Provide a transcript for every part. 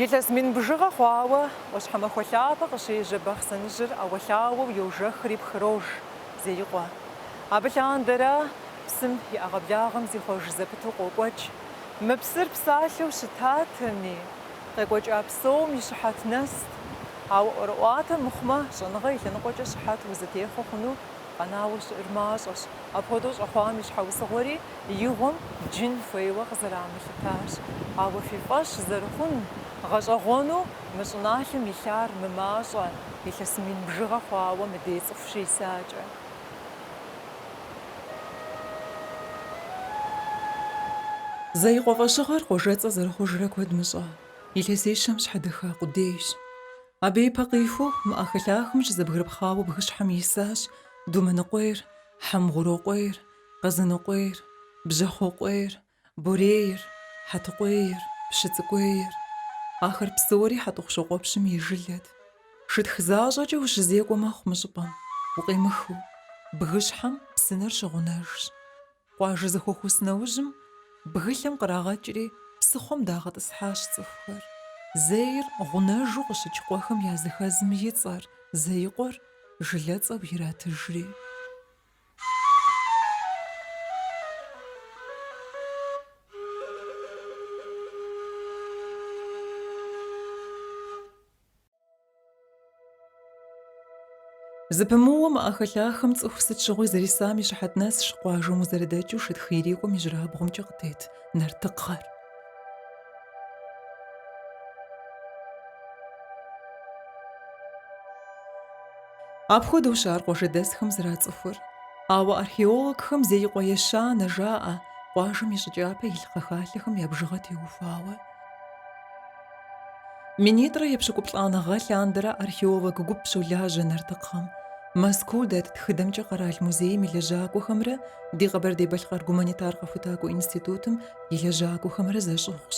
Илъэс мин бжыгъэ хъуауэ ӏуащхьэмахуэ лъапэ къыщежьэ Бахъсэныжьыр ӏэуэлъауэу йожэхри пхрож Зеикъуэ. Абы лъандэрэ псым и ӏэгъэблагъэм зихъуэж зэпыту къокӏуэкӏ. Мы псыр псалъэу щытатэми. Къекӏуэкӏа псом и щыхьэт нэст. Ауэ ӏуэрыӏуатэ мыхъумэ, щӏэныгъэ и лъэныкъуэкӏэ щыхьэт узытехъуэ хъуну къэнауэ щыӏэр мащӏэщ. Апхуэдэу щӏэхъуам и щхьэусыгъуэри игъуэм джын хуейуэ къызэрамылъытащ. Ауэ фи фӏэщ зэрыхъун, гъэщӏэгъуэну мы щӏыналъэм илъар мымащӏэ, илъэс мин бжыгъэ хъуауэ мыдей цӏыху щисакӏэ. Зеикъуэ фӏэщыгъэр къуажэцӏэ зэрыхъужрэ куэд мыщӏа, илъэсищэм щхьэдэха къудейщ. Абы ипэ къихуэу мы ӏэхэлъахэм щызэбгрыпхъауэ бгыщхьэм исащ Думэныкъуейр, Хьэмгъурокъуейр, Къэзыныкъуейр, Бжьэхъуэкъуейр, Борейр, Хьэтыкъуейр, Пщыцӏыкӏуейр, ахэр псори Хьэтӏохъущокъуэпщым и жылэт. Шытх защӏэкӏэ ущызекӏуэ мэхъу мы щӏыпӏэм, укъемыхыу. Бгыщхьэм псынэр щыгъунэжщ. Къуажэ зэхуэхус нэужьым, бгылъэм кърагъэкӏри, псыхъуэм дагъэтӏысхьащ цӏыхухэр. Зейр гъунэжу къыщыкӏ къуэхэм языхэзым и цӏэр, Зеикъуэр, жылэцӏэу иратыжри. Зыпымыууэ мы ӏэхэлъахэм цӏыху сыт щыгъуи зэрисам и щыхьэт нэсщ къуажэм узэрыдэкӏыу шытх ирикӏуэм ижьырабгъумкӏэ къытет Нартыкхъэр. Апхуэдэущ ар къуажэдэсхэм зэрацӏыхур. Ауэ археологхэм Зеикъуэ ещанэ жаӏэ, къуажэм и щӏы кӏапэ илъ кхъэхалъэхэм я бжыгъэ теухуауэ. Минитӏрэ епщыкӏуплӏанэ гъэ лъандэрэ археолог гуп щолажьэ Нартыкхъэм. Мэзкуу дэт тхыдэмкӏэ Къэрал музейм и лэжьакӏуэхэмрэ ди Къэбэрдей-Балъкъэр гуманитар къэхутакӏуэ институтым и лэжьакӏуэхэмрэ зэщӏыгъущ.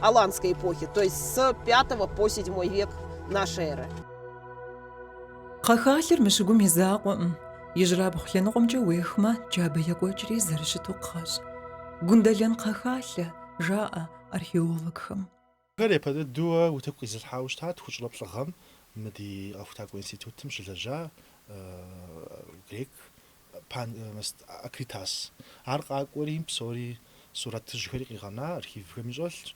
Аланской эпохи, то есть с V по VII век нашей эры. Кхъэхалъэр мы щыгум и закъуэкъым. Ижьрабгъу лъэныкъуэмкӏэ уехмэ, джабэ екӏуэкӏри зэрыщыту кхъэщ. Гундэлэн кхъэхалъэ, жаӏэ археологхэм. Ар япэ дыдэуэ утыку къизылъхьауэ щытат тхущӏрэ плӏы гъэм мы ди къэхутакӏуэ институтым щылэжьа грек Панаит Акритас. Ар къакӏуэри, псори, сурэтыжьхэри къигъэна, архивхэми щӏэлъщ.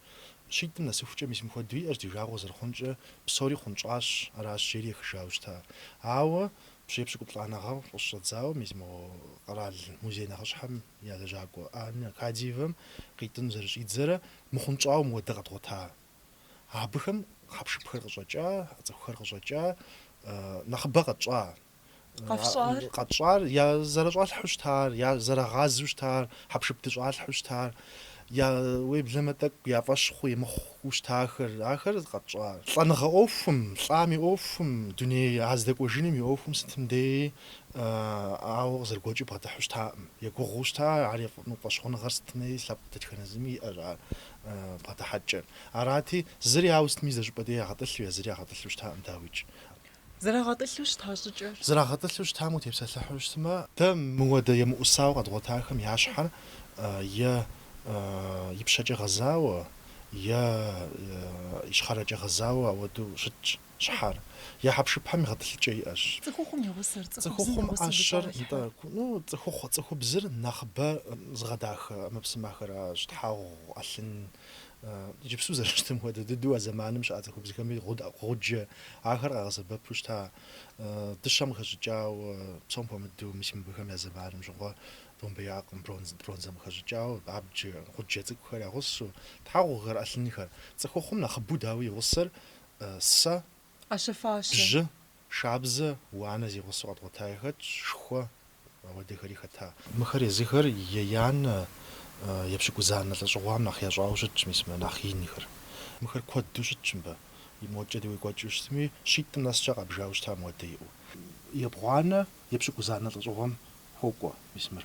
Щитӏым нэсыхукӏэ мис мыхуэдэу иӏэщ, ди жагъуэ зэрыхъункӏэ, псори хъунщӏащ, аращ жери ехыжауэ щыта. Ауэ пщӏей пщыкӏуплӏанэ гъэм къыщыщӏэдзауэ мис мо къэрал музей нэхъыщхьэм я лэжьакӏуэ Анна Кадиевэм къитӏын зэрыщӏидзэрэ мыхъунщӏауэ мыуэдэ къэдгъуэта. Абыхэм хьэпшыпхэр къыщӏэкӏа, цӏыхухэр къыщӏэкӏа, нэхъыбэ къэтщӏа. Къэфщӏар? Къэтщӏар я зэрыщӏалъхьу щытар, я зэрагъазу щытар, хьэпшып дыщӏалъхьу щытар, я уеблэмэ тӏэкӏу я фӏэщ хъу емыхъуу щытахэр, ахэр къэтщӏар. Лӏэныгъэ ӏуэхум, лӏам и ӏуэхум, дуней а здэкӏуэжыным и ӏуэхум сытым деи ауэ къызэрыгуэкӏыу бгъэдыхьу щытакъым. Егугъуу щыта, ар фӏэщхъуныгъэр сытми, лъэпкъ дэтхэнэ зыми иӏэщ ар бгъэдыхьэкӏэ. Арати, зыри ауэ сытми зы щӏыпӏэ деи ягъэтӏылъу е зыри ягъэтӏылъу щытакъым, дауикӏ. Зэрагъэтӏылъу щыта щӏыкӏэр. Зэрагъэтӏылъу щытам утепсэлъыхьу щытмэ. Дэ мыуэдэ емыӏусауэ къэдгъуэтахэм я щхьэр е ипщэкӏэ гъэзауэ, е ищхъэрэкӏэ гъэзауэ ауэду щытщ щхьэр. Я хьэпшыпхэм и гъэтӏылъыкӏэ иӏэщ. Цӏыхухъум и гъусэр, цӏыхубзым и гъусэу сытхэр. Ну, цӏыхухъум ӏэщэр, цӏыхухъу, цӏыхубзыр нэхъыбэ зыгъэдахэ ӏэмэпсымэхэращ, тхьэгъу, ӏэлъын, Иджыпсту зэрыщытым хуэдэ дыдэу а зэманым щыӏэ цӏыхубзхэми гъуджэ ахэр къагъэсэбэпу щыта. Дыщэм къыхэщӏыкӏауэ, псом хуэмыдэу мис мыбыхэм я зэманым щыгъуэ домбеякъым, бронзэм къыхэщӏыкӏауэ абджэ, гъуджэ цӏыкӏухэр я гъусэу, тхьэгъухэр, ӏэлъынхэр. Цӏыхухъум нэхъыбэу дауи и гъусэр сэ, бжьы, Шабзэ, уанэ зи гъусэу къэдгъуэтаи хэтщ, шхуэ, ауэдэхэри хэта. Мыхэр езыхэр еянэ, епщыкӏузанэ лӏэщӏыгъуам нэхъ ящӏауэ щытщ, мис мыр нэхъ инхэр. Мыхэр куэду щытщ мыбы, и модкӏэ дей уекӏуэкӏыу щытми, щитӏым нэскӏэ къабжауэ щыта мыуэдэ иӏэу. Ебгъуанэ, епщыкӏузанэ лӏэщӏыгъуэм хуокӏуэ, мис мыр.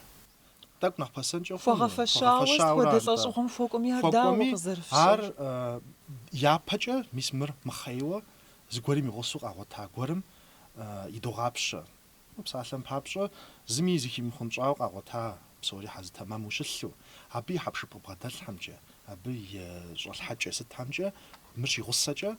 Тӏэкӏу нэхъ пэсэнкӏэ хъуну? Хуэгъэфэщауэ сыт хуэдэ лӏэщӏыгъуэм хуэкӏуэми ар дауэ къызэрыфщӏыр? Ар япэкӏэ, мис мыр мыхъейуэ, зыгуэрым и гъусэу къагъуэта гуэрым идогъапщэ. Псалъэм папщӏэ, зыми зыхимыхъунщӏауэ къагъуэта псори хьэзы тэмэму щылъу, абы и хьэпшып къыбгъэдэлъхэмкӏэ, абы и щӏалъхьэкӏэ сытхэмкӏэ мыр щигъусэкӏэ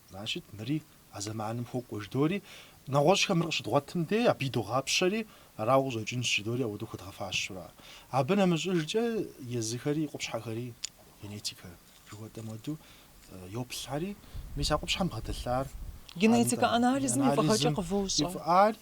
Значит, мыри а зэманым хуокӏуэ, жыдори, нэгъуэщӏхэм мыр къыщыдгъуэтым дей, абы идогъапщэри, арауэ къыщӏэкӏынщ, жыдори, ауэдэу хуэдгъэфащэу ара. Абы нэмыщӏыжкӏэ езыхэри, къупщхьэхэри, генетикэ жыхуэтӏэм хуэдэу, йоплъхэри, мис а къупщхьэм бгъэдэлъар, Генетикэ анализым и фӏыгъэкӏэ къывощӏэ.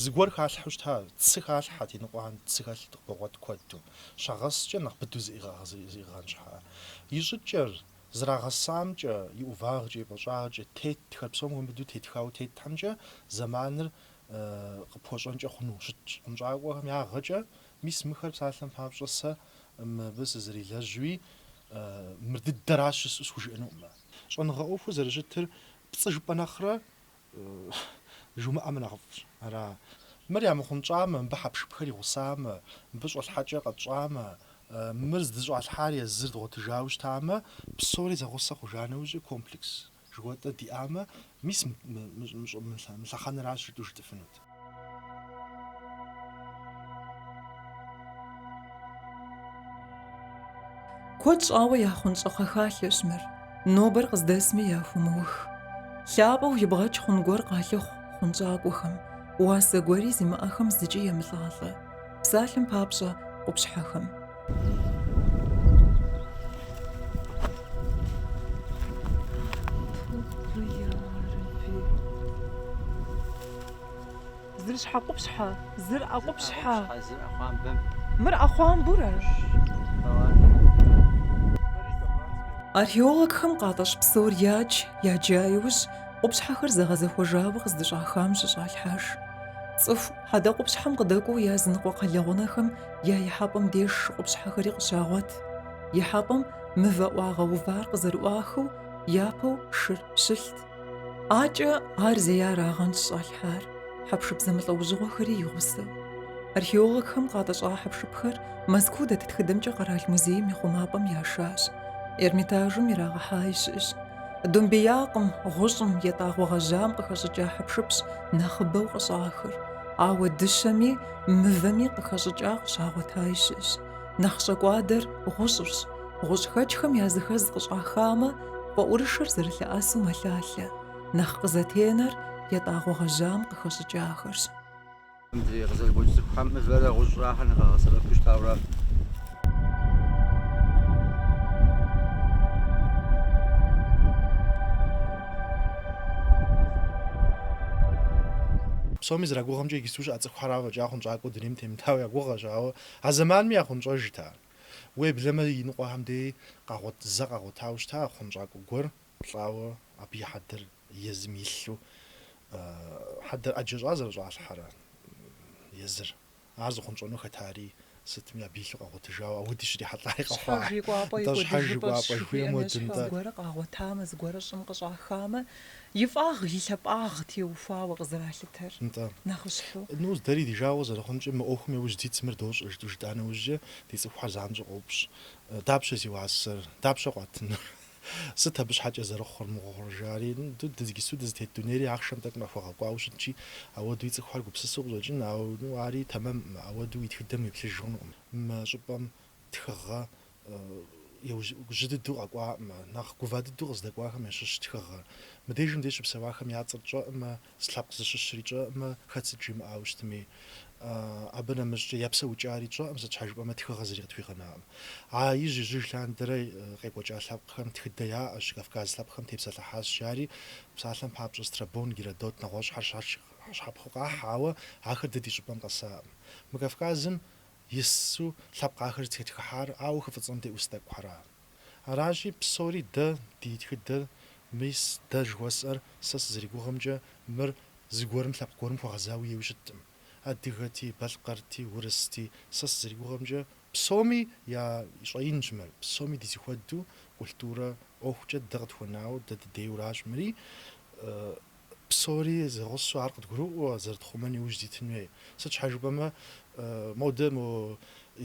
Зыгуэр халъхьэу щыта, цы халъхьэт, иныкъуэхэм цы хэлъу къыбогъуэт куэду. Щагъэскӏэ нэхъ быдэу зиӏыгъын щхьэкӏэ. И щӏыкӏэр, зэрагъэсамкӏэ, и ӏувагъкӏэ, и пӏащӏагъкӏэ тетхэр псом хуэмыдэу тетхауэ тетхэмкӏэ зэманыр къыпхуэщӏэнкӏэ хъуну щытщ. Хъунщӏакӏуэхэм ягъэкӏэ, мис мыхэр псалъэм папщӏэ сэ мыбы сызэрилэжьуи, мыр дыдэращ жысӏэу схужыӏэнукъымэ. Щӏэныгъэ ӏуэхур зэрыщытыр Пцӏы жыпӏэ нэхърэ жумыӏэмэ нэхъыфӏщ. Ара? Мыр ямыхъунщӏамэ, мыбы хьэпшыпхэр и гъусамэ, мыбы щӏэлъхьэкӏэ къэтщӏамэ, мыр здыщӏалъхьар езыр дгъуэтыжауэ щытамэ, псори зэгъусэ хъужа нэужьи комплекс жыхуэтӏэ диӏамэ, мис мы лъэхъэнэращ жытӏэу жытӏыфынут. Куэд щӏауэ яхъунщӏэ кхъэхалъэщ мыр, нобэр къыздэсми яхумыух. Лъапӏэу ибгъэкӏ хъун гуэр къалъыхъу хъунщӏакӏуэхэм, уасэ гуэри зимыӏэхэм зыкӏи емылӏалӏэ. Псалъэм папщӏэ, къупщхьэхэм. Зыр щхьэкъупщхьэ, зыр ӏэкъупщхьэ. Мыр ӏэхъуамбурэ? Археологхэм къатӏэщӏ псор ядж, яджа иужь, къупщхьэхэр зэгъэзэхуэжауэ къыздыщӏахам щыщӏалъхьэж. Цӏыху Хьэдэкъупщхьэм къыдэкӏуэу языныкъуэ кхъэлэгъунэхэм я ихьэпӏэм деж шы къупщхьэхэри къыщагъуэт. Ихьэпӏэм мывэ ӏуагъэувар къызэрыӏуахыу, япэу шыр щылът. Адэкӏэ ар зеярагъэнщ щӏалъхьар, хьэпшып зэмылӏэужьыгъуэхэри и гъусэу. Археологхэм къатӏэщӏа хьэпшыпхэр Мэзкуу дэт тхыдэмкӏэ къэрал музейм и хъумапӏэм яшащ, Эрмитажым ирагъэхьаи щыӏэщ. Домбеякъым гъущӏым етӏагъуэ гъэжьам къыхэщӏыкӏа хьэпшыпщ нэхъыбэу къыщӏахыр, ауэ дыщэми мывэми къыхэщӏыкӏа къыщагъуэтаи щыӏэщ. Нэхъ щӏэкӏуадэр гъущӏырщ. Гъущӏхэкӏхэм языхэз къыщӏахамэ, фӏэӏурышэр зэрылъэӏэсу мэлъалъэ. Нэхъ къызэтенэр етӏагъуэ гъэжьам къыхэщӏыкӏахэрщ. Мыдрей къызэрыгуэкӏ цӏыхухэм мывэрэ гъущӏрэ ахэр нэхъ къагъэсэбэпу щытауэрэ. Псоми зэрагугъэмкӏэ иджыпсту щыӏэ цӏыхухэрауэ фӏэкӏа хъунщӏакӏуэу дунейм темытауэ я гугъэщ, ауэ а зэманми яхъунщӏэжт ар. Уеблэмэ иныкъуэхэм дей къагъуэт, зэ къагъуэтауэ щыта хъунщӏакӏуэ гуэр лӏауэ абы и хьэдэр. Езым илъу хьэдэр ӏэджэ щӏа зэрыщӏалъхьэрэ езыр, ар зыхъунщӏэну хэтари, сытми абы илъу къагъуэтыжауэ ауэди щрихьэлӏари къэхъуа. Щхьэж и кӏуапӏэ и кӏуэдыжыпӏэщ жыхуиӏэм ещхьу, зыгуэрэ къагъуэтамэ, зыгуэрэ щӏым къыщӏахамэ, и фӏагъ, и лъапӏагъ теухуауэ къызэралъытэр. Нтӏэ. Нэхъыщхьэу. Ну, дэри ди жагъуэ зэрыхъункӏэ, мы ӏуэхум яужь дитщ, мыр дощӏэ, жытӏэу жытӏа нэужькӏэ, ди цӏыхухьэр занщӏэу къоупщӏ, Дапщэ зи уасэр? Дапщэ къуатынур? Сыт абы щхьэкӏэ зэрыхъур, мыгъуэ хъур, жари? Ду дызгису дызытет дунейри ахъшэм тӏэкӏу нэхъ хуэгъэкӏуауэ щытщи, ауэдуи цӏыхухэр гупсысэу къыщӏэкӏын, ауэ ну ари тэмэмӏым, ауэду уи тхыдэм уеплъыж хъунукъым. Мы щӏыпӏэм тхыгъэр жьы дыдэу къэкӏуаӏымэ, нэхъ гува дыдэу къыздэкӏуахэм ящыщщ тхыгъэр. Мыдежым де щыпсэуахэм я цӏэр тщӏэӏымэ, Сыт лъэпкъ зыщыщри тщӏэӏымэ, хэт сыт жимыӏауэ щытми. Абы нэмыщӏкӏэ я псэукӏари тщӏэӏым, сыт щхьэ жыпӏэмэ тхыгъэ зыри къытхуигъэнакъым. А ижь ижьыж лъандэрэ къекӏуэкӏа лъэпкъхэм тхыдэ яӏэщ, Кавказ лъэпкъхэм тепсэлъыхьащ, жари псалъэм папщӏэ Страбон, Геродот нэгъуэщӏхэр щапхъэу къахь, ауэ ахэр дэ ди щӏыпӏэм къэсаӏым. Мы Кавказым ису лъэпкъ ахэр зытетхыхьар ауэ хы фӏыцӏэм де ӏус тӏэкӏухьэра. Аращи, псори дэ ди тхыдэр, мис дэ жыхуэсӏэр сэ сызэригугъэмкӏэ мыр зыгуэрым лъэпкъ гуэрым хуэгъэзауи ейуи щытӏым. Адыгэти, балъкъэрти, урысти, сэ сызэригугъэмкӏэ, псоми я щӏэинщ мыр, псоми ди зыхуэдэу культурэ ӏуэхукӏэ дэ къытхуэнауэ, дэ дыдейуэращ мыри. Псори зэгъусэу ар къыдгурыӏуэу зэрытхъумэн иужь дитын хуей. Сыт щхьэ жыпӏэмэ, модэ мо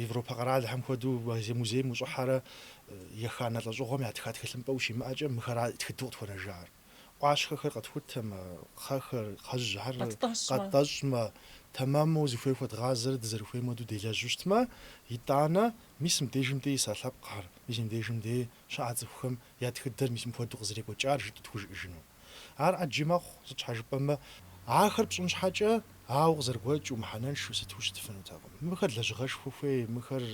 Европэ къэралхэм хуэдэу музейм ущӏыхьэрэ еханэ лӏэщӏыгъуэм ятха тхылъымпӏэ ущимыӏэкӏэ, мыхэра тхыдэу къытхуэнэжар. ӏуащхъэхэр къэтхутэмэ, кхъэхэр, кхъэжьхэр къэттӏэщӏмэ, тэмэму зыхуей хуэдгъазэрэ дызэрыхуейм хуэдэу делэжьу щытмэ, итӏанэ мис мыбдежым дей иса лъэпкъхэр, мис мыбдежым дей щыӏа цӏыхухэм я тхыдэр мис мыпхуэдэу къызэрекӏуэкӏар жытӏэу тхужыӏыжыну. Ар ӏэджи мэхъу, сыт щхьэ жыпӏэмэ, ахэр пщӏын щхьэкӏэ, ауэ къызэрыгуэкӏыу, мыхьэнэншэу сыту щытыфынутэкъым. Мыхэр лэжьыгъэшхуэ хуей, мыхэр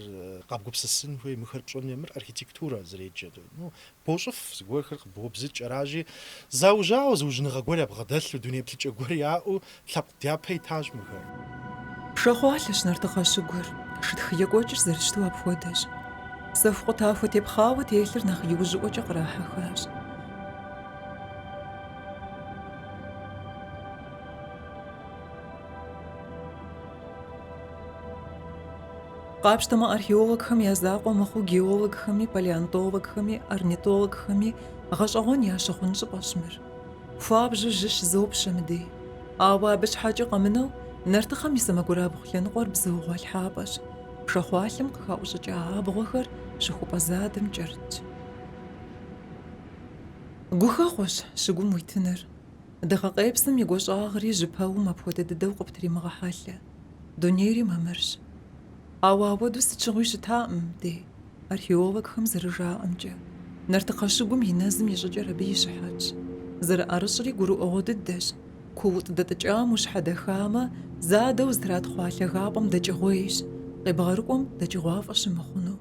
къэбгупсысын хуей, мыхэр пщӏын хуей, мыр архитектурэ зэреджэр. Ну, бощӏыф зыгуэрхэр, къыбобзыкӏ аращи, заужьауэ, зыужьыныгъэ гуэр ябгъэдэлъу, дуней плъыкӏэ гуэр яӏэу, Лъэпкъ дяпэ итащ мыхэр. Пшахъуалъэщ нартыхъэ щыгур, шытх екӏуэкӏыр зэрыщыту апхуэдэщ. Сэху къутахуэ тепхъауэ телъыр нэхъ иужьыӏуэкӏэ кърахьэхащ. Къапщтэмэ, археологхэм я закъуэ мыхъуу геологхэми, палеонтологхэми, орнитологхэми гъэщӏэгъуэн ящыхъун щӏыпӏэщ мыр. Хуабжьу жьы щызопщэ мыдей. Ауэ абы щхьэкӏэ къэмынэу, нартыхъэм и сэмэгурабгъу лъэныкъуэр бзыугъуэ лъхьапӏэщ, пшахъуалъэм къыхаӏущӏыкӏа абгъуэхэр щыхупӏэ задэм кӏэрытщ. Гухэхъуэщ щыгум уитыныр. Дыгъэкъепсым и гуащӏагъри жьы пэум апхуэдэ дыдэу къыптримыгъэхьэлъэ. Дунейри мамырщ. Ауэ ауэдэу сыт щыгъуи щытаӏым дей. Археологхэм зэрыжаӏэмкӏэ, Нартыхъэ щыгум и нэзым и щӏыкӏэр абы и щыхьэтщ. Зэрыӏэрыщӏри гурыӏуэгъуэ дыдэщ, куут дэтӏыкӏам ущхьэдэхамэ, задэу зытратхъуа лъагапӏэм дэкӏыгъуейщ, къебгъэрыкӏуэм дэкӏыгъуафӏэ щымыхъуну.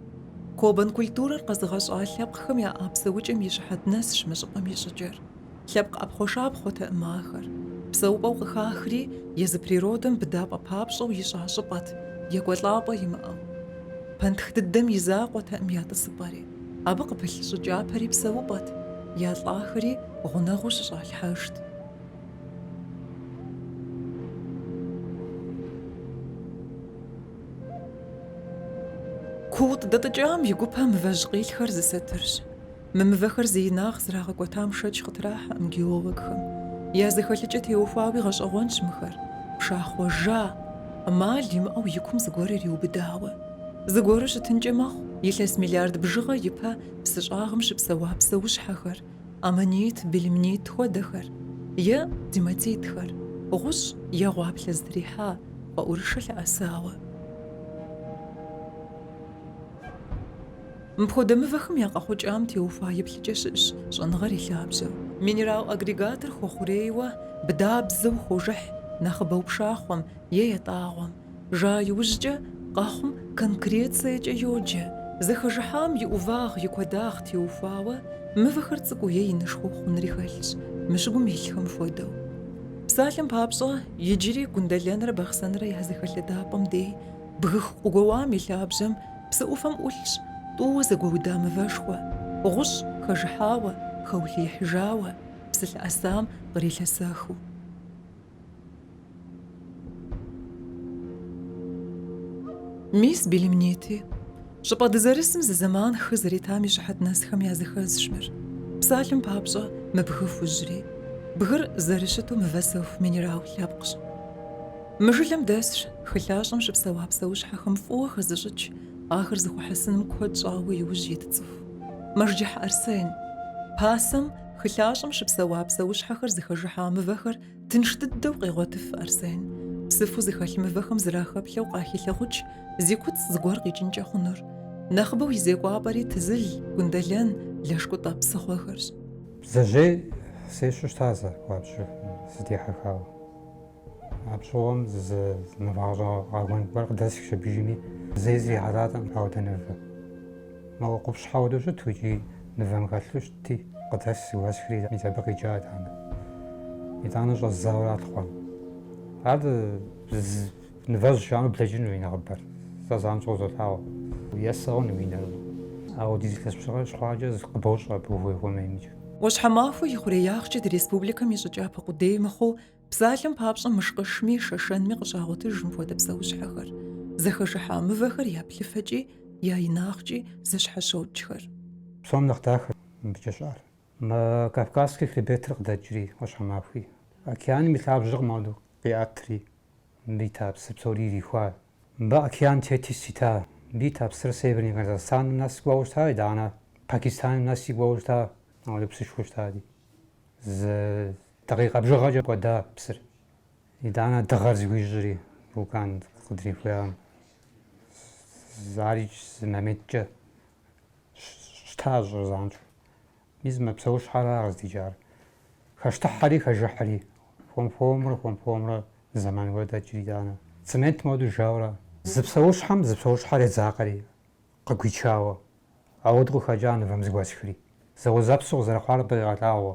Кобан культурэр къэзыгъэщӏа лъэпкъхэм я ӏэпсэукӏэм и щыхьэт нэсщ мы щӏыпӏэм и щӏыкӏэр. Лъэпкъ ӏэпхъуэшапхъуэтэӏым ахэр. Псэупӏэу къыхахри, езы природым быдапӏэ папщӏэу ищӏа щӏыпӏэт, екӏуэлӏапӏэ имыӏэу. Пэнтх дыдэм и закъуэтэӏым я тӏысыпӏэри. Абы къыпылъ щӏы кӏапэри псэупӏэт, я лӏахэри гъунэгъуу щыщӏалъхьэжт. Куут дэтӏыкӏам и гупэ мывэжь къилъхэр зы сэтырщ. Мы мывэхэр зы инагъ зрагъэкӏуэтам шэч къытрахьэӏым геологхэм. Я зэхэлъыкӏэ теухуауи гъэщӏэгъуэнщ мыхэр. Пшахъуэ жа, амал имыӏэу и кум зыгуэр ириубыдауэ. Зыгуэру щытынкӏэ мэхъу илъэс миллиард бжыгъэ ипэ псы щӏагъым щыпсэуа псэущхьэхэр, аммонит, белемнит хуэдэхэр, е гематитхэр, гъущӏ е гъуаплъэ зытрихьа фӏэӏурышэ лъэӏэсауэ. Мыпхуэдэ мывэхэм я къэхъукӏам теухуа еплъыкӏэ щыӏщ щӏэныгъэр и лъабжьэу. Минерал агрегатыр хуэхъурейуэ, быдабзэу хожыхь нэхъыбэу пшахъуэм е ятӏагъуэм. Жа иужькӏэ къэхъум конкрециекӏэ йоджэ. Зэхэжыхьам и ӏувагъ, и куэдагъ теухуауэ мывэхэр цӏыкӏуу е инышхуэу хъунри хэлъщ, мы щыгум илъхэм хуэдэу. Псалъэм папщӏэ, иджыри Гундэлэнрэ Бахъсэнрэ я зэхэлъэдапӏэм дей бгых къыгуэуам и лъабжьэм Псы ӏуфэм ӏулъщ тӏууэ зэгуэуда мывэшхуэ, гъущӏ хэжыхьауэ, хэулъиихьыжауэ, псы лъэӏэсам кърилъэсэхыу. Мис белемнити, щӏыпӏэ дызэрысым зы зэман хы зэритам и щыхьэт нэсхэм языхэзщ мыр. Псалъэм папщӏэ, мы бгы хужьри. Бгыр зэрыщыту мывэсэху минерал лъэпкъщ. Мы жылэм дэсщ хылъащӏэм щыпсэуа псэущхьэхэм фӏыуэ хэзыщӏыкӏ, ахэр зыхуэхьэсыным куэд щӏауэ иужь ит цӏыху Мэжджыхь Арсен. Пасэм, хылъащӏэм щыпсэуа псэущхьэхэр зыхэжыхьа мывэхэр тынш дыдэу къегъуэтыф Арсен, псыфу зыхэлъ мывэхэм зэрахэплъэу къахилъэгъукӏ зи куцӏ зыгуэр къикӏынкӏэ хъунур. Нэхъыбэу и зекӏуапӏэри Тызыл, Гундэлэн, Лэшкӏутӏэ псыхъуэхэрщ. Бдзэжьей сещу щыта зэ хуабжьу сыдихьэхауэ. Абщыгъуэм нывэ гъэщӏэгъуэн гуэр къыдэсхщ абыжми, зэи срихьэлӏатэкъым ауэдэ нывэ. Моуэ къупщхьэ хуэдэу щыту икӏи нывэм хэлъу щытти, къыдэсхщ зыгуэсхри мис абы къикӏа итӏанэ. Итӏанэ щӏэздзауэ ара лъыхъуэн. Ар нывэжь жаӏэу блэкӏыну и нэхъыбэр, сэ занщӏэу золъагъу. Есэну уи нэр. Ауэдиз илъэс бжыгъэ щыхъуакӏэ къыбощӏэ абы ухуей-ухуэмеймикӏ. Ӏуащхьэмахуэ и хъуреягъкӏэ ди республикэм и щӏы кӏапэ къудей мыхъуу, Псалъэм папщӏэ мышкъышми, шэшэнми къыщагъуэтыж мыпхуэдэ псэущхьэхэр зыхэжыхьа мывэхэр. Я плъыфэкӏи, я инагъкӏи зэщхьэщокӏхэр. Псом нэхъ дахэр мыбыкӏэ щыӏэр. Мы Кавказский хребетыр къыдэкӏри, ӏуащхьэмахуи, океаным и лъабжьэр къы- модэу къиӏэтри, мыбы ита псы псори ирихуа. Мыбы океан Тетис ита, мыбы ита псыр Северный Казахстаным нэси кӏуэуэ щыта, итӏанэ Пакистаным нэси кӏуэуэ щыта, ауэдэ псышхуэ щытати, зы Дакъикъэ бжыгъэкӏэ кӏуэда псыр. Итӏанэ дыгъэр зыхуищӏри, вулкан къыдрихуеям, ари зы моменткӏэ щта щӏыр занщӏэу. Мис мы псэущхьэра къыздикӏар. Хэщтыхьэри хэжыхьри, хуэм-хуэмурэ хуэм-хуэмурэ зэман куэд дэкӏри, итӏанэ цемент модэу жауэра. Зы псэущхьэм зы псэущхьэр едзакъэри, къыгуичауэ, ауэду къыхэкӏа нывэм зыгуэсхри. Зэуэзэпсу къызэрыхъуар дыкъигъэлъагъуэ.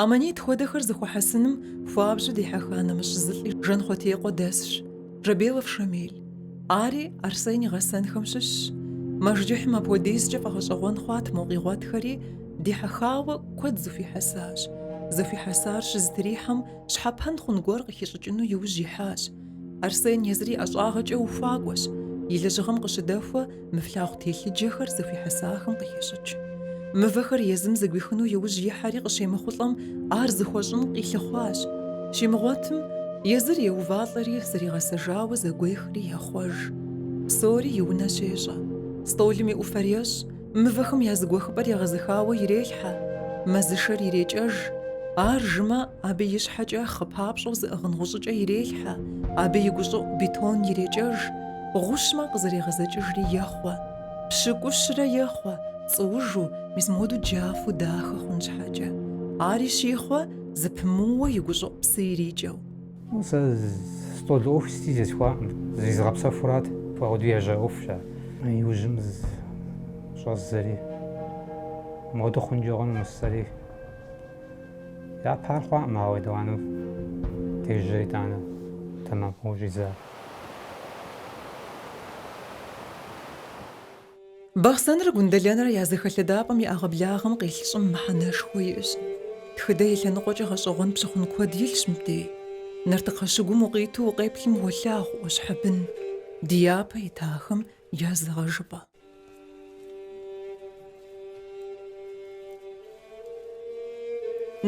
Аммонит хуэдэхэр зыхуэхьэсыным хуабжьу дихьэха нэмыщӏ зы лӏи Жанхъуэтекъуэ дэсщ, Жабелов Шамил. Ари Арсен и гъэсэнхэм щыщщ. Мэжджыхьым апхуэдизкӏэ фӏэгъэщӏэгъуэн хъуат мо къигъуэтхэри, дихьэхауэ куэд зыхуихьэсащ. Зыхуихьэсар щызэтрихьэм, щхьэпэн хъун гуэр къыхищӏыкӏыну и ужь ихьащ. Арсен езыр и ӏэщӏагъэкӏэ ухуакӏуэщ. И лэжьыгъэм къыщыдэхуэ, Мы флъагъу телъыджэхэр зыхуихьэсахэм къыхещӏыкӏ. Мывэхэр езым зэгуихыну иужь ихьэри къыщемыхъулӏэм, ар зыхуэщӏын къилъыхъуащ. Щимыгъуэтым, езыр еувалӏэри, зригъэсэжауэ зэгуехри ехъуэж. Псори и унэ щещӏэ. Стӏолым и ӏуфэр ещӏ, мывэхэм я зыгуэхыпӏэр егъэзыхауэ ирелъхьэ. Мэзышэр ирекӏэж. Ар жымэ, абы и щхьэкӏэ хъы папщӏэу зыӏыгъын гъущӏыкӏэ ирелъхьэ, абы и гущӏыӏу бетон ирекӏэж. Гъущмэ къызэрегъэзэкӏыжри ехъуэ, пщыкӏущрэ ехъуэ, цӏуужу, мис моду джафэу дахэ хъун щхьэкӏэ. Ари щихъуэ, зэпымыууэ и гущӏыӏу псы ирикӏэу. Сэ стӏол ӏуэху сыти зесхуакъым, зризыгъэпсэхурат, ауэдэу ежьа ӏуэхущ ар. Иужьым щӏэздзэри, моду хъункӏэ хъуну жысӏэри. Япэ ар хъуакъым, ауэ етӏуанэу дежьэри итӏанэ тэмэму щӏидза. Бахъсэнрэ Гундэлэнрэ я зэхэлъэдапӏэм и ӏэгъэблагъэм къилъ щӏым мыхьэнэшхуэ иӏэщ. Тхыдэ и лъэныкъуэкӏэ гъэщӏэгъуэн пщыхъун куэд илъщ мыбдеж. Нартыкхъэ щыгум укъиту укъеплъым уолъагъу ӏуащхьэ бын, ди япэ итахэм я зыгъэжыпӏэ.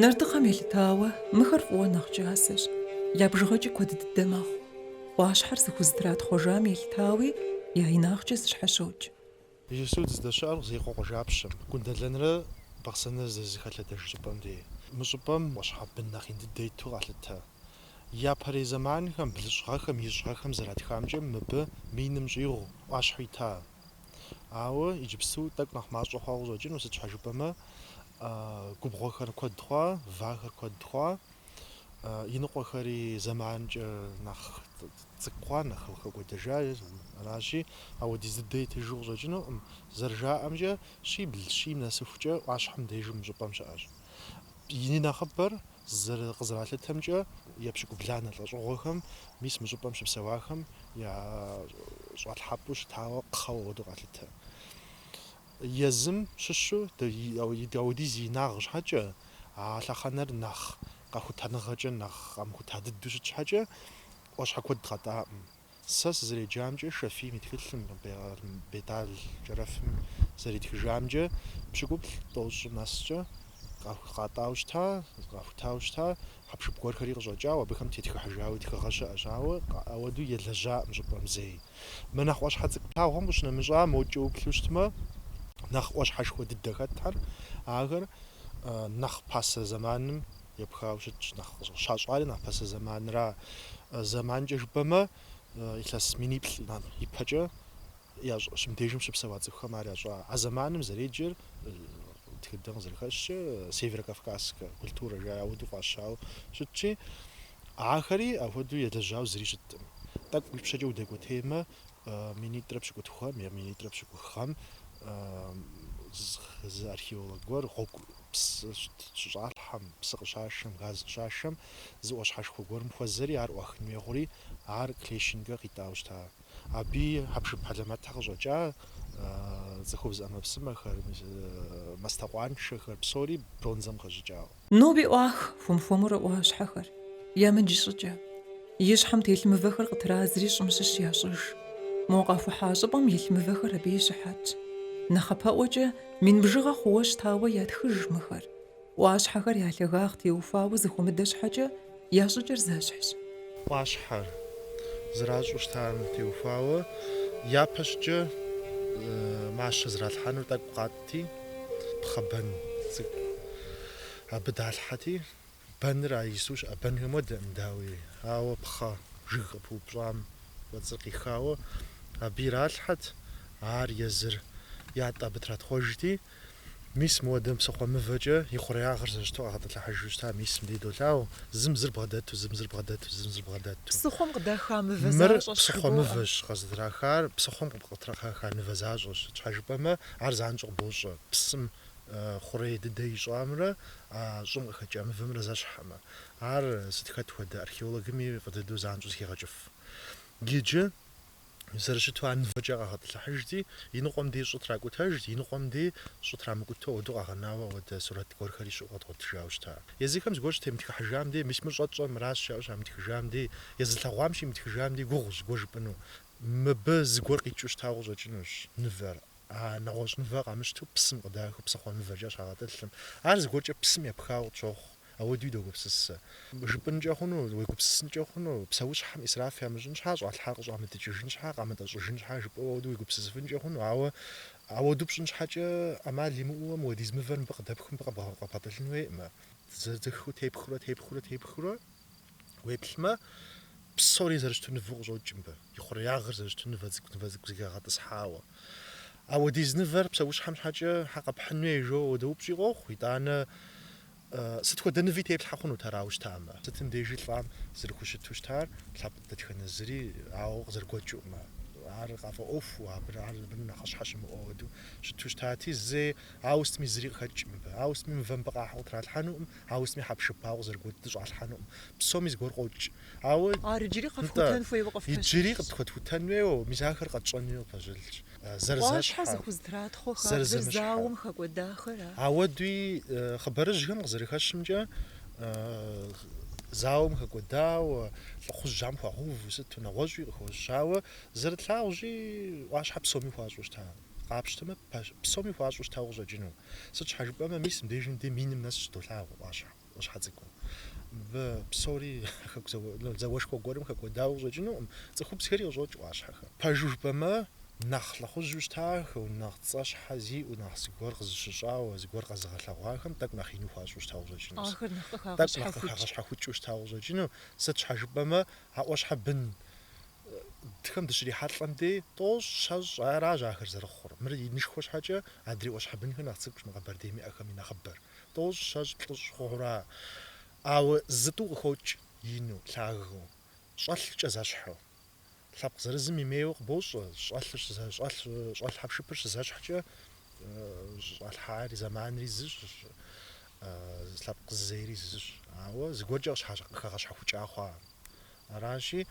Нартыкхъэм елъытауэ, мыхэр фӏыуэ нэхъ кӏасэщ, я бжыгъэкӏи куэд дыдэ мэхъу. ӏуащхьэр зыхузэтратхъуэжам елъытауи, я инагъкӏэ зэщхьэщокӏ. Иджыпсту дыздэщыӏэр къы Зеикъуэ къуажапщэм, Гундэлэнрэ Бахъсэнрэ здызэхэлъэдэж щӏыпӏэм де. Мы щӏыпӏэм ӏуащхьэ бын нэхъ ин дыдэ иту къалъытэ. Япэрей зэманхэм блыщӏгъэхэм ищӏгъэхэм зэратхамкӏэ мыбы миным щӏигъу ӏуащхьэ ита. Ауэ иджыпсту тӏэкӏу нэхъ мащӏэ хъуауэ къыщӏэкӏыну, сыт щхьэ жыпӏэмэ, губгъуэхэр куэд хъуа, вахэр куэд хъуа, иныкъуэхэри зэманкӏэ нэхъ цӏыкӏу хъуа, нэхъ хэкӏуэдэжа. Аращи, апхуэдиз дыдэ итыжу къыщӏэкӏынукъым. Зэрыжаӏэмкӏэ, щибл щийм нэсыхукӏэ ӏуащхьэ мыдеж мы щӏыпӏэм щыӏэщ. И нэхъыбэр Зэры къызэралъытэмкӏэ, епщыкӏубланэ лӏэщӏыгъуэхэм, мис мы щӏыпӏэм щыпсэуахэм я щӏалъхьэпӏэу щытауэ кхъэуэ ауэду къалъытэ. Езым щыщу апхуэдиз и инагъ щхьэкӏэ, а лъэхъэнэр нэхъ къэхутэныгъэкӏэ, нэхъ къамыхута дыдэу щыт щхьэкӏэ, ӏуащхьэ куэд къатӏакъым. Сэ сызэреджамкӏэ Шафийм и тхылъым, Бетал Кӏэрэфым зэритхыжамкӏэ, пщыкӏуплӏ тӏощӏ нэскӏэ къатӏау щыта, къахутау щыта, хьэпшып гуэрхэри къыщӏэкӏауэ, абыхэм тетхыхьыжауи тхыгъэ щыӏэщ, ауэ ауэду елэжьакъым щӏыпӏэм зэи. Мы нэхъ ӏуащхьэ цӏыкӏу плъагъухэм къыщынэмыщӏа мокӏэ уплъу щытмэ, нэхъ ӏуащхьэшхуэ дыдэ хэтхэр, ахэр нэхъ пасэ зэманым Епхауэ щытщ, нэхъ щащӏари нэхъ пасэ зэманра. Зэманкӏэ жыпӏэмэ, илъэс миниплӏ ипэкӏэ щы мыбдежым щыпсэуа цӏыхухэм ар ящӏа. А зэманым зэреджэр тхыдэм къызэрыхэщкӏэ северокавказскэ культурэ жаӏэ ауэдэу фӏащауэ щытщи, ахэри ахуэдэу елэжьауэ зыри щыткъым. Тӏэкӏу ипщэкӏэ удэкӏуэтеймэ, Минитӏрэ пщыкӏутхухэм е минитӏрэ пщыкӏуххэм зы археолог гуэр гъуэгу, псы щыщӏалъхьэм, псы къыщашэм, газ къыщашэм зы ӏуащхьэшхуэ гуэрым хуэзэри ар ӏуахын хуей хъури, ар Клещенкэ къитӏауэ щыта. Абы хьэпшып хьэлэмэтхэр къыщӏэкӏа цӏыхубз ӏэмэпсымэхэр, мастэкъуаншэхэр псори бронзэм хэщӏыкӏауэ. Ноби ӏуах хуэм-хуэмурэ ӏуащхьэхэр. Ямыдж щӏыкӏэ. И щхьэм телъ мывэхэр къытрадзри щӏым щыщ ящӏыж. Мо къахухьа щӏыпӏэм илъ мывэхэр абы и щыхьэтщ. Нэхъапэӏуэкӏэ, мин бжыгъэ хъууэ щытауэ ятхыж мыхэр. ӏуащхьэхэр я лъагагъ теухуауэ зыхуэмыдэ щхьэкӏэ, я щӏыкӏэр зэщхьщ. ӏуащхьэр зэращӏу щытам теухуауэ япэщӏыкӏэ мащэ зралъхьэнур тӏэкӏу къатӏ. ти пхъэ бэн цӏыкӏу абы далъхьэти, бэныр а иджыпсту щыӏэ бэнхэм хуэдэкъым, дауи, ауэ пхъэ жыг къыпыупщӏам кӏуэцӏыр къихауэ абы иралъхьэт, ар езыр ятӏэ абы тратхъуэжти, мис мыуэдэ псыхъуэ мывэкӏэ и хъуреягъыр зэрыщыту къагъэтӏылъыхьыжу щыта, мисым дей долъагъу, зым зыр бгъэдэту, зым зыр бгъэдэту, зым зыр бгъэдэту. Псыхъуэм къыдаха мывэ Мыр защӏэщ псыхъуэ жыбоӏэ. мывэщ, къыздрахар, псыхъуэм къыдаха нывэ защӏэщ, щхьэжыпӏэмэ, Ар занщӏэу къыбощӏэ псым хъурей дыдэ ищӏамрэ а щӏым къыхэкӏа мывэмрэ зэщхькъымэ. Ар сыт хэт хуэдэ археологми фӏы дыдэу занщӏэу зыхегъэкӏыф. Иджы, зэрыщыту ар мывэкӏэ къагъэтӏылъыхьыжти, и ныкъуэм дей щӏы тракӏутэжт, и ныкъуэм дей щӏы трамыкӏутэу ауэдэу къагъэнауэ ауэдэ сурэт гуэрхэри щыӏэу къэдгъуэтыжауэ щыта. Езыхэм зыгуэр щытемытхыхьыжам дей, мис мыр щӏэтщӏэр мыращ жаӏэу щамытхыжам дей, езылъэгъуам щимытхыжам дей гугъущ зыгуэр жыпӏэну. Мыбы зыгуэр къикӏыу щытауэ къыщӏэкӏынущ нывэр. А нэгъуэщӏ нывэр къамыщтэу псым къыдахэу псыхъуэ нывэкӏэ щагъэтӏылъым. Ар зыгуэркӏэ псым епхауэ къытщохъу, ауэдуи догупсысэ. Жыпӏынкӏэ хъуну, уегупсысынкӏэ хъуну, псэущхьэм исраф ямыщӏын щхьа, щӏалъхьар къыщӏамытӏыкӏыжын щхьа, къамытӏэщӏыжын щхьа жыпӏэу ауэдэ уегупсысыфынкӏэ хъуну, ауэ ауэду пщӏын щхьэкӏэ ӏэмал имыӏэу уэ мыуэдиз мывэр мыбы къыдэпхыу мыбы къэбгъэтӏылъын хуейкъымэ. Зэзыхыу тепхыурэ, тепхыурэ, тепхыурэ, Уеплъмэ, псори зэрыщыту нывэу къыщӏокӏ мыбы, и хъуреягъыр зэрыщыту нывэ цӏыкӏу нывэ цӏыкӏу зыхэгъэтӏысхьауэ. Ауэдиз нывэр псэущхьэм щхьэкӏэ щхьэ къэпхьын хуей жо ауэдэ упщӏи къохъу, итӏанэ сыт хуэдэ ныви теплъхьэ хъунут арауэ щытамэ. Сытым дежи лӏам зэрыхущыту щытар лъэпкъ дэтхэнэ зыри ауэ къызэрыгуэкӏкъымэ, ар къафӏэӏуэхуу, абы, ар абы нэхъыщхьэ щымыӏэу ауэдэу щыту щытати, зэи ауэ сытми зыри къыхэкӏ мыбы. Ауэ сытми мывэ мыбы къахьу къытралъхьэнукъым, Ауэ сытми хьэпшып ауэ къызэрыгуэкӏыу щӏалъхьэнукъым. Псоми зыгуэр къокӏ. Ауэ. Ар иджыри къэфхутэн хуейуэ къыфпэщылъщ. Иджыри къытхуэтхутэн хуейуэ, мис ахэр къэтщӏэн хуейуэ къыпэщылъщ. Зэрызэщхьэ. Ӏуащхьэ зыхузэтратхъуэ хабзэр зауэм хэкӏуэдахэр а. Ауэ дауи хъыбарыжьхэм къызэрыхэщымкӏэ, зауэм хэкӏуэдауэ, лӏыхъужьхэм хуагъэуву сыту нэгъуэщӏуи къыхэщауэ, зэрытлъагъущи, ӏуащхьэ псоми хуащӏу щыта. Къапщтэмэ, псоми хуащӏу щытауэ къыщӏэкӏыну. Сыт щхьэ жыпӏэмэ, мис мыбдежым дей миным нэс щыдолъагъу ӏуащхьэ ӏуащхьэ цӏыкӏуу. Мыбы псори зауэшхуэ гуэрым хэкӏуэдауэ къыщӏэкӏынукъым, цӏыхубзхэри къыщӏокӏ ӏуащхьэхэм. Пэжу жыпӏэмэ, нэхъ лӏыхъужьу щытахэу, нэхъ цӏэщхьэ зиӏэу, нэхъ зыгуэр къызыщыщӏауэ, зыгуэр къэзыгъэлъэгъуахэм тӏэкӏу нэхъ ину хуащӏу щытауэ къыщӏэкӏыну. Ахэр тӏэкӏу нэхъ къыхагъэщхьэхукӏыу щытауэ къыщӏэкӏыну. Сыт щхьэ жыпӏэмэ, а ӏуащхьэ бын хэм дыщрихьэлӏэм дей тӏощӏ, щэщӏ, аращ ахэр зэрыхъур. Мыр инышхуэ щхьэкӏэ адрей ӏуащхьэбынхэр нэхъ цӏыкӏущ мы Къэбэрдейм иӏэхэм и нэхъыбэр. Тӏощӏ, щэщӏ, плӏыщӏ хъухэура, ауэ зытӏу къыхокӏ, ину, лъагэу, щӏэлъкӏэ зэщхьу. Лъэпкъ зырызым имейуэ къыбощӏэ, щӏэлъыр щызэ, щӏэлъ хьэпшыпыр щызэщхькӏэ, щӏалъхьари, зэманри зыщ, лъэпкъ зызейри зыщ. Ауэ зыгуэркӏэ къыщхьэ, къыхэгъэщхьэхукӏа хъуа. Аращи,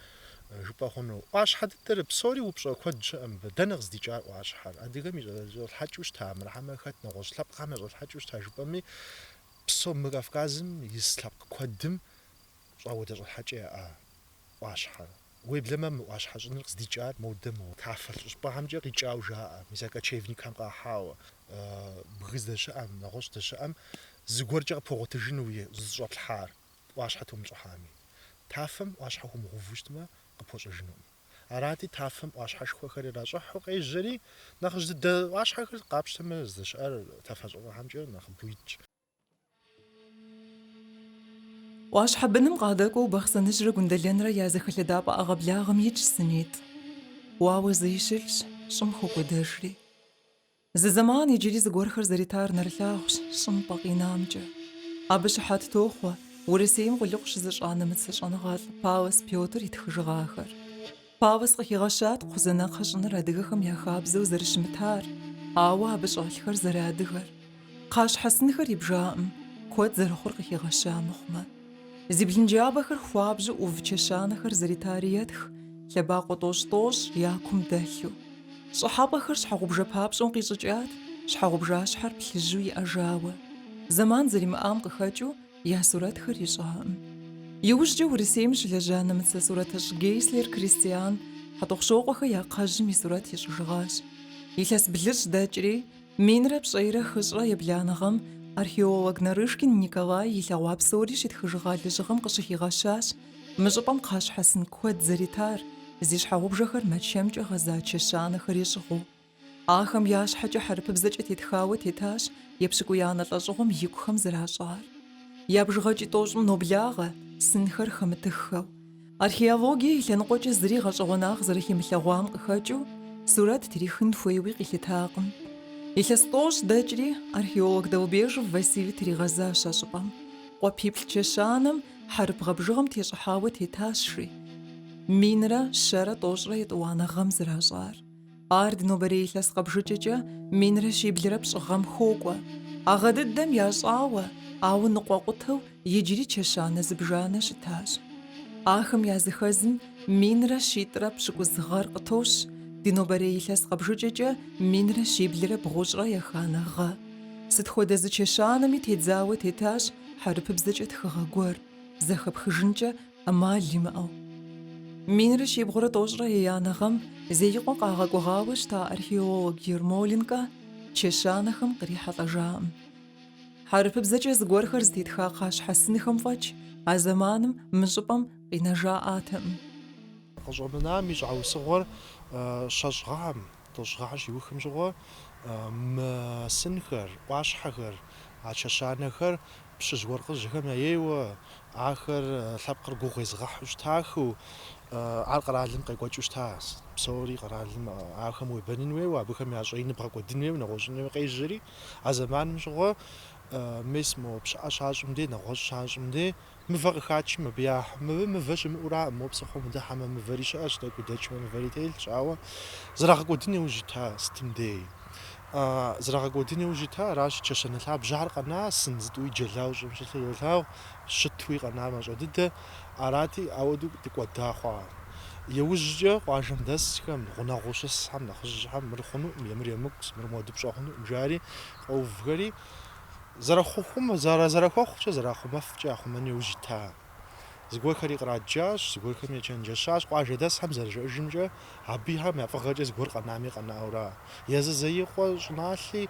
жыпӏэ хъуну, ӏуащхьэ дыдэр, псори упщӏэ куэд щыӏэ мыбы. Дэнэ къыздикӏар ӏуащхьэр? Адыгэм и щӏэлъхьэкӏэу щыта мыр, хьэмэ хэт нэгъуэщӏ лъэпкъхэм я щӏэлъхьэкӏэу щыта жыпӏэми, псо мы Кавказым ис лъэпкъ куэдым щӏауэдэ щӏэлъхьэкӏэ яӏа ӏуащхьэр. Уеблэмэ мы ӏуащхьэ щӏыныр къыздикӏар модэ моуэ тафэлъэ щӏыпӏэхэмкӏэ къикӏауэ жаӏэ, мис а кочевникхэм къахьауэ, бгы здэщыӏэм, нэгъуэщӏ здэщыӏэм зыгуэркӏэ къыпхуэгъуэтыжыну уи зыщӏэплъхьар. ӏуащхьэ тумыщӏыхьами. Тафэм ӏуащхьэ хуумыгъэуву щытмэ, къыпхуэщӏэжынукъым. Арати, тафэм ӏуащхьэшхуэхэр иращӏыхьу къежьэри, нэхъыжь дыдэ ӏуащхьэхэр къапщтэмэ, здэщыӏэр тафэ щӏыгухэмкӏэ нэхъыбэу итщ. ӏуащхьэ быным къадэкӏуэу Бахъсэныжьрэ Гундэлэнрэ я зэхэлъэдапӏэ ӏэгъэблагъэм итщ сынитӏ. Уауэ зыи щылъщ, щӏым хокӏуэдэжри. Зы зэман иджыри зыгуэрхэр зэритар нэрылъагъущ щӏым пӏэ къинамкӏэ. Абы щыхьэт тохъуэ Урысейм къулыкъу щызыщӏа нэмыцэ щӏэныгъэлӏ Паллас Пётр и тхыжыгъахэр. Паллас къыхигъэщат кхъузанэ кхъэ щӏыныр адыгэхэм я хабзэу зэрыщымытар, ауэ абы щӏэлъхэр зэрыадыгэр. Кхъащхьэсынхэр ибжакъым, куэд зэрыхъур къыхигъэща мыхъумэ. Зи блынджабэхэр хуабжьу ӏув чэщанэхэр зэритари етх, лъэбакъуэ тӏощӏ-тӏощӏ я кум дэлъу. Щӏыхьэпӏэхэр щхьэгъубжэ папщӏэу къищӏыкӏат, щхьэгъубжащхьэр плъыжьу иӏэжауэ. Зэман зэримыӏам къыхэкӏыу я сурэтхэр ищӏакъым. Иужькӏэ Урысейм щылэжьа нэмыцэ сурэтыщӏ Гейслер Кристиан Хьэтӏохъущокъуэхэ я кхъэжьым и сурэт ищӏыжыгъащ. Илъэс блыщӏ дэкӏри, Минрэ пщӏейрэ хыщӏрэ ебланыгъэм археолог Нарышкин Николай илъэгъуа псори щитхыжыгъа лэжьыгъэм къыщыхигъэщащ мы щӏыпӏэм кхъащхьэсын куэд зэритар, зи щхьэгъубжэхэр Мэчэмкӏэ гъэза чэщанэхэри щӏыгъуу. Ахэм я щхьэкӏэ хьэрыпыбзэкӏэ тетхауэ тетащ епщыкӏуиянэ лӏэщӏыгъуэм икухэм зэращӏар. Я бжыгъэкӏи тӏощӏым ноблагъэ, сынхэр хэмытыххэу. Археологие и лъэныкъуэкӏэ зыри гъэщӏэгъуэнагъ зэрыхимылъэгъуам къыхэкӏыу сурэт трихын хуейуи къилъытакъым. Илъэс тӏощӏ дэкӏри, археолог Долбежев Василий тригъэзащ а щӏыпӏэм. Къуапиплӏ чэщанэм хьэрып гъэбжыгъэм тещӏыхьауэ тетащ, жи. Минрэ щэрэ тӏощӏрэ етӏуанэ гъэм зэращӏар. Ар ди нобэрей илъэс къэбжыкӏэкӏэ минрэ щиблрэ пщӏы гъэм хокӏуэ. А гъэ дыдэм ящӏауэ, ауэ ныкъуэкъутэу иджыри чэщанэ зыбжанэ щытащ. Ахэм языхэзым минрэ щитӏрэ пщыкӏуз гъэр къытощ ди нобэрей илъэс къэбжыкӏэкӏэ минрэ щиблрэ бгъущӏрэ еханэ гъэ. Сыт хуэдэ зы чэщанэми тедзауэ тетащ хьэрыпыбзэкӏэ тхыгъэ гуэр, зэхэпхыжынкӏэ ӏэмал имыӏэу. Минрэ щибгъурэ тӏощӏрэ еянэ гъэм Зеикъуэ къагъэкӏуэгъауэ щыта археолог Ермоленкэ чэщанэхэм кърихьэлӏэжаӏым. Хьэрыпыбзэкӏэ зыгуэрхэр зытетха кхъащхьэсынхэм фӏэкӏ а зэманым мы щӏыпӏэм къинэжаӏатэкъым. Къыщӏэмынам и щхьэусыгъуэр щэщӏ гъэхэм, тӏощӏ гъэхэр щиухым щыгъуэ, мы сынхэр, ӏуащхьэхэр, а чэщанэхэр пщыжь-уэркъыжьхэм яейуэ, Ахэр лъэпкъыр гугъу езыгъэхьу щытахэу, ар къэралым къекӏуэкӏыу щыта. Псори къэралым ахэм уебэнын хуейуэ, абыхэм я щӏэин бгъэкӏуэдын хуейуэ, нэгъуэщӏын хуейуэ къежьэри. А зэманым щыгъуэ мес мо пщыӏэ щащӏым дей, нэгъуэщӏ щащӏым дей, мывэ къыхачым абы яхьу. Абы мывэ щымыӏураӏым, мо псыхъуэм удыхьэмэ, мывэри щыӏэщ, тӏэкӏу удэкӏмэ, мывэри телъщ, ауэ зэрагъэкӏуэдын иужь ита сытым дей. Зэрагъэкӏуэдын иужь ита, аращ чэщанэ лъабжьэхэр къэна, сын зытӏуи джэлау щӏым щӏылъу йолъагъу, щытуи къэна мащӏэ дыдэ арати, ауэдэу дыкӏуэда хъуа. Иужькӏэ къуажэм дэсхэм, гъунэгъуу щысхэм нэхъыжьхэм мыр хъунуӏым, е мыр емыкӏущ, мыр мыуэдэу пщӏэ хъунуӏым жари къэувхэри, зэрыхъухум, зэрэхуэхъукӏэ, зэрахъумэфкӏэ яхъумэн иужь ита. Зыгуэрхэри къраджащ, зыгуэрхэми ечэнджэщащ. Къуажэдэсхэм зэрыжеӏэжымкӏэ, абыхэм я фӏыгъэкӏэ зыгуэр къэнами къэнаура. Езы Зеикъуэ щӏыналъи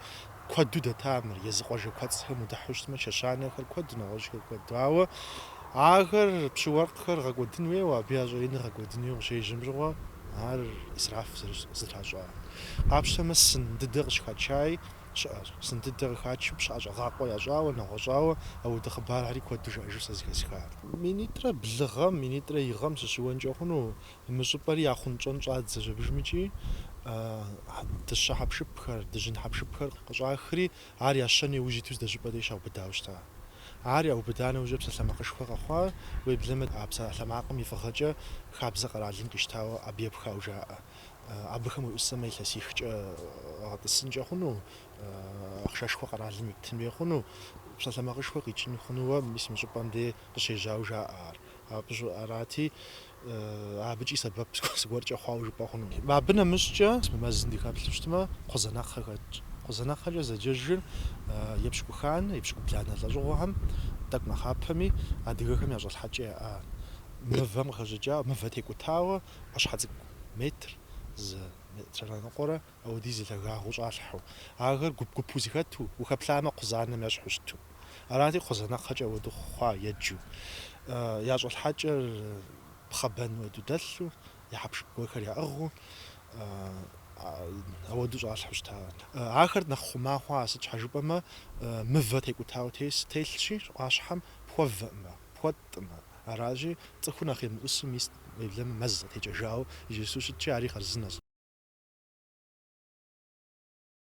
куэду дэта мыр, езы къуажэ куэцӏхэм удыхьу щытмэ, чэщанэхэр куэд, нэгъуэщӏхэр куэд. Ауэ ахэр пщы-уэркъхэр гъэкӏуэдын хуейуэ, абы я щӏэиныр гъэкӏуэдын хуейуэ къыщежьэм щыгъуэ, ар ӏисраф зэтращӏа. Къапщтэмэ, сын дыдэ къыщыхачай. щыӏэщ. Сын дыдэ къыхачу пщыӏэ щӏэгъакъуэ ящӏауэ, нэгъуэщӏауэ ауэдэ хъыбархэри куэду жаӏэжу сэ зыхэсха. Минитӏрэ блы гъэм, минитӏрэ и гъэм сыщыуэнкӏэ хъуну? Мы щӏыпӏэри яхъунщӏэн щӏадзэщ абыжмыкӏи. Дыщэ хьэпшыпхэр, дыжьын хьэпшыпхэр къыщӏахри, ар ящэн иужь иту здэщӏыпӏэ дей щаубыдауэ щыта. Ар яубыда нэужьрэ псалъэмакъышхуэ къэхъуа, уеблэмэ а псалъэмакъым и фӏыгъэкӏэ хабзэ къэралым къищтауэ абы епхауэ жаӏэ. Абыхэм уеӏусэмэ, илъэсихкӏэ гъэтӏысынкӏэ хъуну, ахъшэшхуэ къэралым иптын хуей хъуну, псалъэмакъышхуэ къикӏын хъунууэ мис мы щӏыпӏэм дей къыщежьауэ жаӏэ ар. Абы щӏыӏэ арати, абыкӏи сэбэп зыгуэркӏэ хъуауэ жыпӏэ хъуну. Абы нэмыщӏкӏэ мы мэзым дыхэплъу щытмэ, кхъузанэкхъэ хэтщ. Кхъузанэкхъэкӏэ зэджэжыр епщыкӏуханэ, епщыкӏубланэ лӏэщӏыгъуэхэм, тӏэкӏу нэхъапэми, адыгэхэм я щӏэлъхьэкӏэ яӏа мывэм къыхэщӏыкӏауэ, мывэ текӏутауэ, ӏуащхьэ цӏыкӏу метр зы метррэ ныкъуэрэ ауэдиз и лъагагъыу щӏалъхьэу, ахэр гуп-гупу зыхэту, ухэплъамэ, кхъузанэм ещхьу щыту. Арати, кхъузанэкхъэкӏэ ауэдэу хъуа еджэу. Я щӏэлъхьэкӏэр пхъэбэн уэду дэлъу, я хьэпшып гуэрхэр яӏыгъыу ауэду щӏалъхьэу щыта. Ахэр нэхъ хъума хъуа, сыт щхьэ жыпӏэмэ, мывэ текӏутауэ телъщи, ӏуащхьэм пхуэвэӏымэ, пхуэтӏымэ. Аращи, цӏыхур нэхъ емыӏусу мис уеблэмэ мэз зэтекӏэжауэ иджысу щытщи, ари хъарзынэщ.